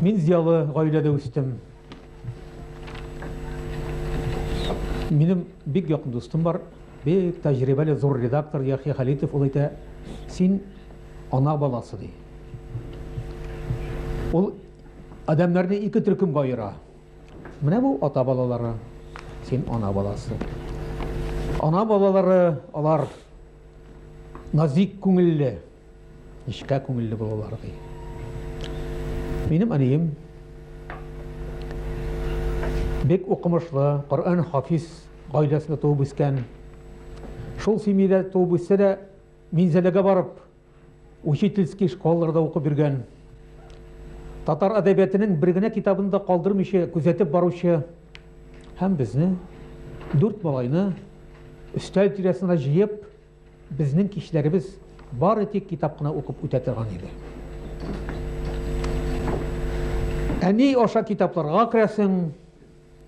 Мин зиялы гаиләдә үстем. Минем бик якын дустым бар, бик тәҗрибәле зур редактор Яхья Халитов ул әйтә, син ана баласы ди. Ул адамнарны ике төркемгә аера. Менә бу ата балалары, син ана баласы. Ана балалары алар назик күңелле, Нечкә күңелле булалар, ди. Минем әнием бик укымышлы, Коръән хафиз гаиләсендә туып үскән. Шул семьядә туып үссе дә, Минзәләгә барып, учительский школаларда укып йөргән. Татар әдәбиятының бер генә китабын да калдырмыйча күзәтеп баручы һәм безне, дүрт малайны, өстәл тирәсенә җыеп, Безнең кичләребез бары тик китап кына укып үтә торган иде. Ә ни аша китапларга керәсең,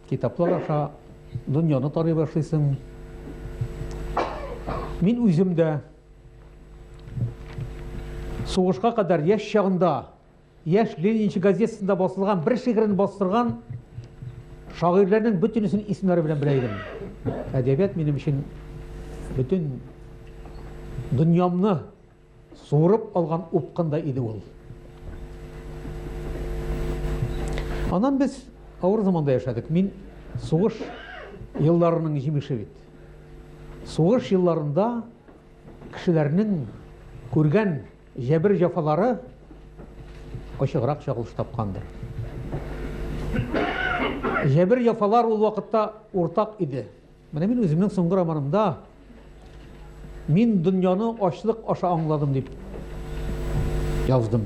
китаплар аша дөньяны тарый башлыйсың. Мин үзем дә сугышка кадәр яшь чагында Яшь ленинчы газетасында басылган бер шигырен бастырган шагыйрьләрнең бөтенесен исемнәре белән белә идем. Әдәбият минем өчен бөтен дөньямны суырып алган упкында иде ул. Аннан без авыр заманда яшәдек. Мин сугыш елларының җимеше бит. Сугыш елларында кешеләрнең күргән Җәбер-җәфалары ачыграк чагылыш тапкандыр. Җәбер-җәфалар ул вакытта уртак иде. Менә мин үземнең соңгы романымда мин дөньяны ачлык аша аңладым дип яздым.